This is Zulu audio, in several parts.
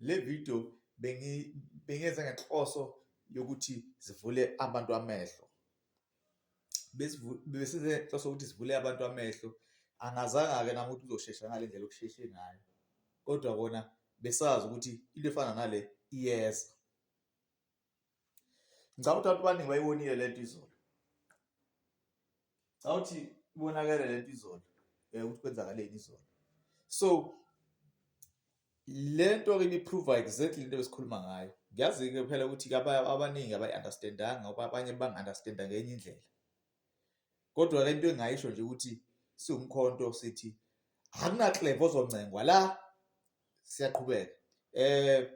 Le video bengiyenza ngenhloso yokuthi zivule abantu amehlo. Besize inhloso ukuthi sivule abantu amehlo. Angazanga-ke nami ukuthi uzoshesha ngale ndlela okusheshe ngayo. Kodwa kona besazi ukuthi into efana nale iyeza. Ngicabanga ukuthi abantu abaningi bayibonile le nto izolo. Ngicabanga ukuthi ibonakele le nto izolo um ukuthi kwenzakaleni izolo. So le nto-ke ibiphruva exactly into ebesikhuluma ngayo. Ngiyazi-ke phela ukuthi abaningi abayi-understandanga ngoba abanye bang-understanda ngenye indlela. kodwa-ke into engingayisho nje ukuthi siwumkhonto sithi akunakleva ozoncengwa la siyaqhubeka eh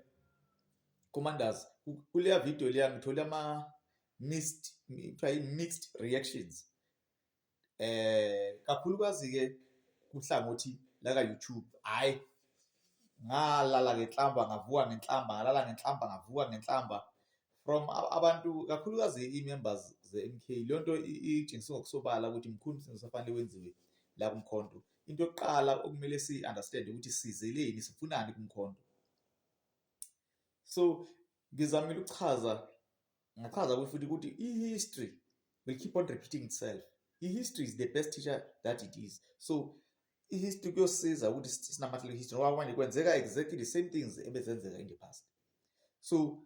commanders kuleya video leya ngithole ama mixed kuthiwa mixed reactions eh kakhulukazi ke kuhlangothi la ka YouTube hayi ngalala ngenhlamba ngavuka ngenhlamba ngalala ngenhlamba ngavuka ngenhlamba from abantu kakhulukazi i-members ze-MK leyo nto itshengisa ngokusobala ukuthi mkhulu umsebenzi osafanele wenziwe la kumkhonto into yokuqala okumele si-understand ukuthi sizeleni sifunani kumkhonto so ngizamile ukuchaza ngachaza kuyo futhi ukuthi i-history will keep on repeating itself i-history is the best teacher that it is so ihistory kuyosiza ukuthi sinamathele ihistory ngoba manje kwenzeka exactly the same things ebezenzeka in the past so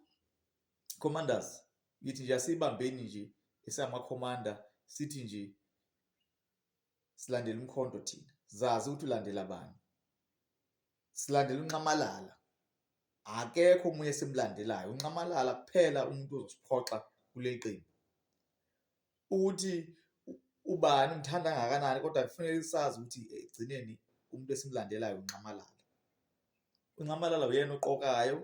commanders ngithi nje asibambeni nje esamakhomanda sithi nje silandela umkhonto thina zazi ukuthi ulandela bani silandela unxamalala akekho omunye simlandelayo unxamalala kuphela umuntu ozosiphoxa kuleli qembu ukuthi ubani umthanda kangakanani kodwa kufanele sazi ukuthi egcineni umuntu esimlandelayo unxamalala unxamalala uyena oqokayo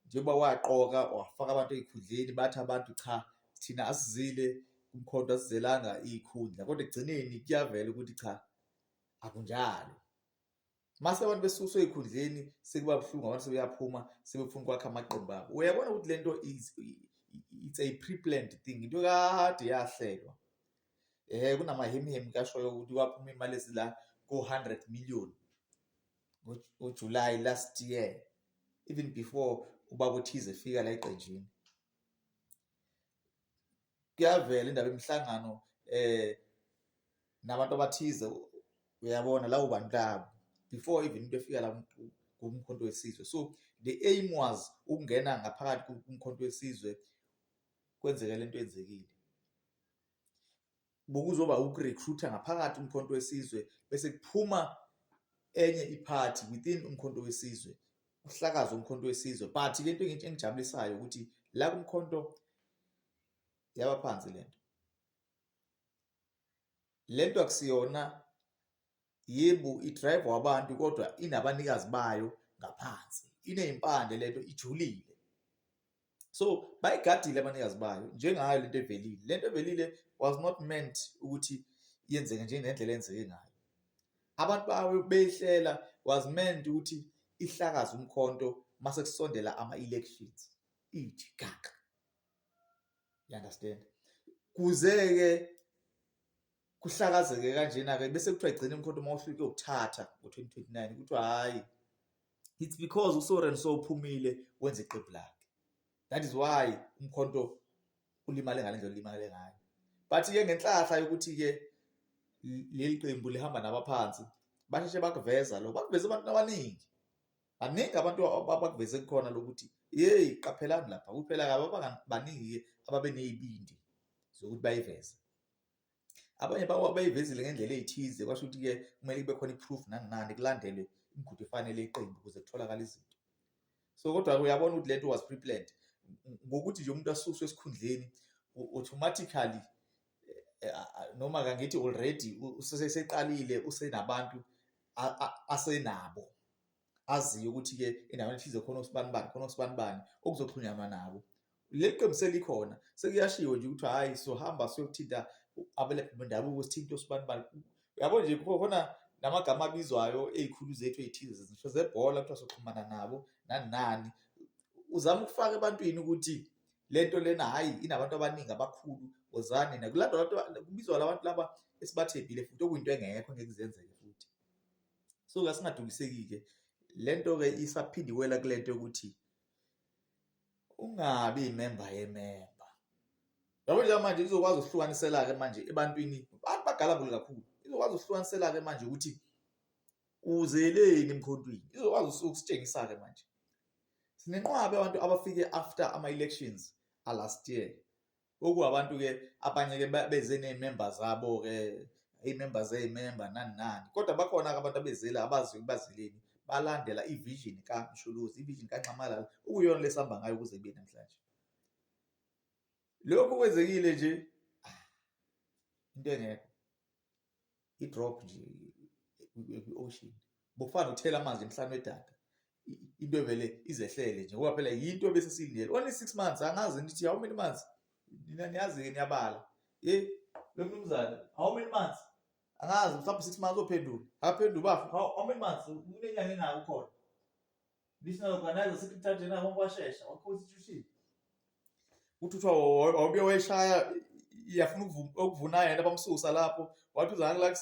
njengoba waqoka wafaka abantu ezikhundleni bathi abantu cha thina asizile kumkhonto asizelanga izikhundla kodwa ekugcineni kuyavela ukuthi cha akunjalo mase abantu besuswe ezikhundleni sekuba buhlungu abantu sebeyaphuma sebefuna ukwakha amaqembu abo uyabona ukuthi lento is it's a pre-planned thing into kade yahlelwa eh kunamahemihemi kashoyo ukuthi waphuma imali esila ko-100 million ngoJuly last year even before ubaba uthize efika la eqenjini kuyavela indaba yemihlangano eh nabantu abathize uyabona lawo bantu labo before even into efika la kumkhonto wesizwe so the aim was ukungena ngaphakathi kumkhonto wesizwe kwenzeke lento enzekile bokuzoba ukurecruiter ngaphakathi umkhonto wesizwe bese kuphuma enye iphathi within umkhonto wesizwe uhlakaza umkhonto wesizwe but le nto engijabulisayo ukuthi la kumkhonto yaba phansi le nto le nto akusiyona yebo idrive wabantu kodwa inabanikazi bayo ngaphansi inezimpande le nto ijulile so bayigadile abanikazi bayo njengayo lento evelile lento evelile was not meant ukuthi yenzeke njengendlela enzeke ngayo abantu bawe beyihlela was meant ukuthi ihlakaza umkhonto mase kusondela ama elections ithi gaga you understand kuze ke kuhlakazeke kanjena ke bese kuthiwa igcina imkhonto uma uhlulike ukuthatha ngo-2029 kuthiwa hhayi it's because usoren so uphumile wenza iqembu lakhe that is why umkhonto ulimale ngale ndlela ulimale ngayo but-ke ngenhlahla yokuthi-ke leli qembu lihamba nabaphansi basheshe bakuveza lokho bakuveza abantu abaningi baningi abantu abakuveze kukhona lokuthi yeyi qaphelani lapha kuphela-ke abaningi-ke ababe ney'bindi zokuthi bayiveze abanye bayivezile ngendlela eyithize kwasho ukuthi-ke kumele kube khona i-proof nangani kulandelwe imigudu efanele iqembu ukuze kutholakale izinto so kodwa uyabona ukuthi lento was pre-planned ngokuthi nje umuntu asuswe esikhundleni automatically eh, noma kangithi already useseqalile usenabantu asenabo aziyo ukuthi-ke endaweni ethize khona osibanibani khona osibanibani okuzoxhunyanwa nabo leli qembu selikhona sekuyashiwo nje ukuthi hhayi sohamba siyothinta abelaphi bendabuko sithinta osibanibani uyabo nje khona namagama abizwayo ey'khulu zethu ey'thize zisho zebhola kuthiwa soxhumana nabo nani nani uzama ukufaka ebantwini ukuthi le nto lena hhayi inabantu abaningi abakhulu wozani nakulandwa abantu kubizwa labantu laba esibathembile futhi okuyinto engekho ngeke zenzeke futhi so kasingadukiseki-ke le nto-ke isaphindiwela kule nto yokuthi ungabi imemba yememba yabo nje manje izokwazi ukuhlukanisela-ke manje ebantwini abantu bagalabule kakhulu izokwazi ukuhlukanisela-ke manje ukuthi uzeleni emkhontwini izokwazi ukusitshengisa-ke manje sinenqwabe abantu abafike after ama-elections alast year Oku abantu ke abanye ke beze nee-member zabo ke ii-member zee-member nani nani. Kodwa bakhona ke abantu abezile abaziyo ukuba bazeleni balandela i-vision kaMsholozi, i-vision kaNxamalala okuyiyona le sihamba ngayo kuze kube namhlanje. Lokhu kwenzekile nje into engekho. i-drop nje kwi-ocean bokufana nokuthela amanzi emhlane wedada into evele izehlele nje ngoba phela yinto bese siyilindele only six months angazi ngithi how many months nina niyazi-ke niyabala ye lo mnumzane how many months angazi mhlawumbe six months ophendula akaphendula ubafa how many months kunenyanga engako khona Ngisho nalokanayo sikuthathe na wonke washesha wakhosi chushini. Uthi uthiwa wawubuye wayishaya iyafuna ukuvuna yena bamsusa lapho wathi uzana la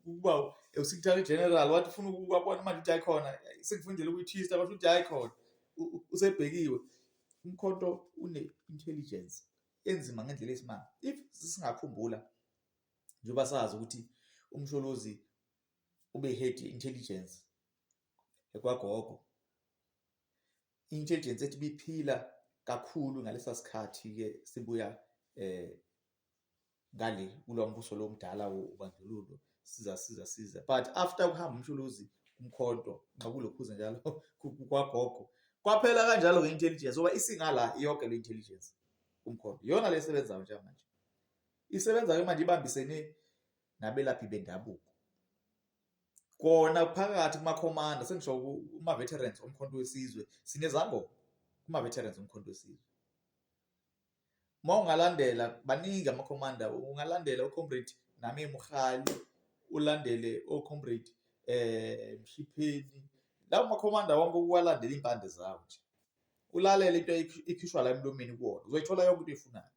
ukuba uSecretary General wathi ufuna ukubona manje uthi ayikhona sekufundela ukuyithista wathi uthi ayikhona usebhekiwe umkhonto une intelligence enzima ngendlela esimanga if singakhumbula njengoba sazi ukuthi umsholozi ubehead intelligence ekwagogo intelligence ethi biphila kakhulu ngalesa sikhathi ke sibuya eh ngale kulombuso lomdala wobandlululo siza siza siza but after kuhamba umshuluzi umkhonto nqakulokhuze njalo kwagogo kwaphela kanjalo ngeintelligence oba isingala yonke le intelligence umkhonto yona lesebenzayo njengamanje isebenza ke manje ibambisene nabelaphi bendabuko. Kona phakathi kumakhomanda sengisho kuma-veterans omkhonto wesizwe sinezangoma kuma-veterans omkhonto wesizwe. Uma ungalandela baningi amakhomanda ungalandela ucomrade nami Mkhali ulandele ocomrade um eh, Mshipheni lawo makhomanda wonke ukuwalandela iy'mpande zawo nje ulalele into ekhishwa la emlomeni kuwona uzoyithola yonke into eyifunayo.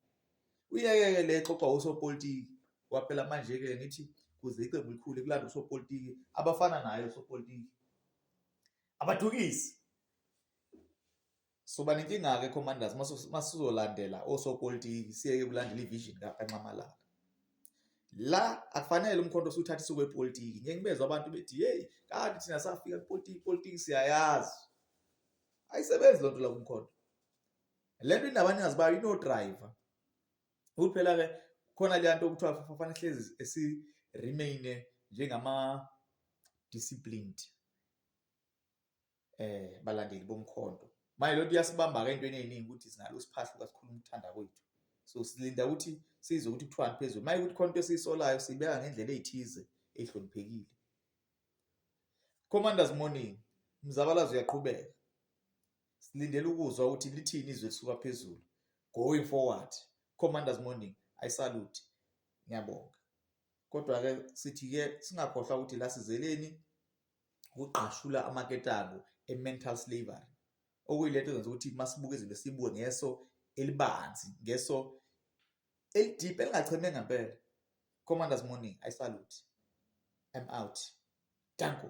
uyeke-ke le xoxa osopolitiki kwaphela manje-ke ngithi kuze iqembu likhule kulanda osopolitiki abafana naye osopolitiki abadukisi soba nenkinga-ke commanders masizolandela osopolitiki siyeke kulandela ivision kakanxamalala la akufanele umkhonto usuthatha isuku epolitiki ngeke ngibezwa abantu bethi hey kanti thina safika kupolitiki ipolitiki siyayazi ayisebenzi loo nto la kumkhonto le nto indaba ningazi bayo inodrayiva ukuthi phela-ke khona leya nto okuthiwa fafana hlezi esi-remaine njengama-disciplined eh balandeli bomkhonto manje lento iyasibamba-ke entweni ey'ningi ukuthi sinalo siphahla ukasikhuluma ukuthanda kwethu so silinda ukuthi size ukuthi kuthiwani phezulu maye ukuthi khona into esiyisolayo siyibeka ngendlela ey'thize ehloniphekile commanders morning umzabalazo uyaqhubeka silindele ukuzwa ukuthi lithini izwi elisuka phezulu going forward commanders morning i salute ngiyabonga kodwa ke sithi ke singakhohlwa ukuthi la sizeleni ukugqashula amaketabo e-mental slavery okuyilento ezenza ukuthi masibuke izinto sibuke ngeso elibanzi ngeso elideep elingacheme ngempela commanders morning i salute i'm out danko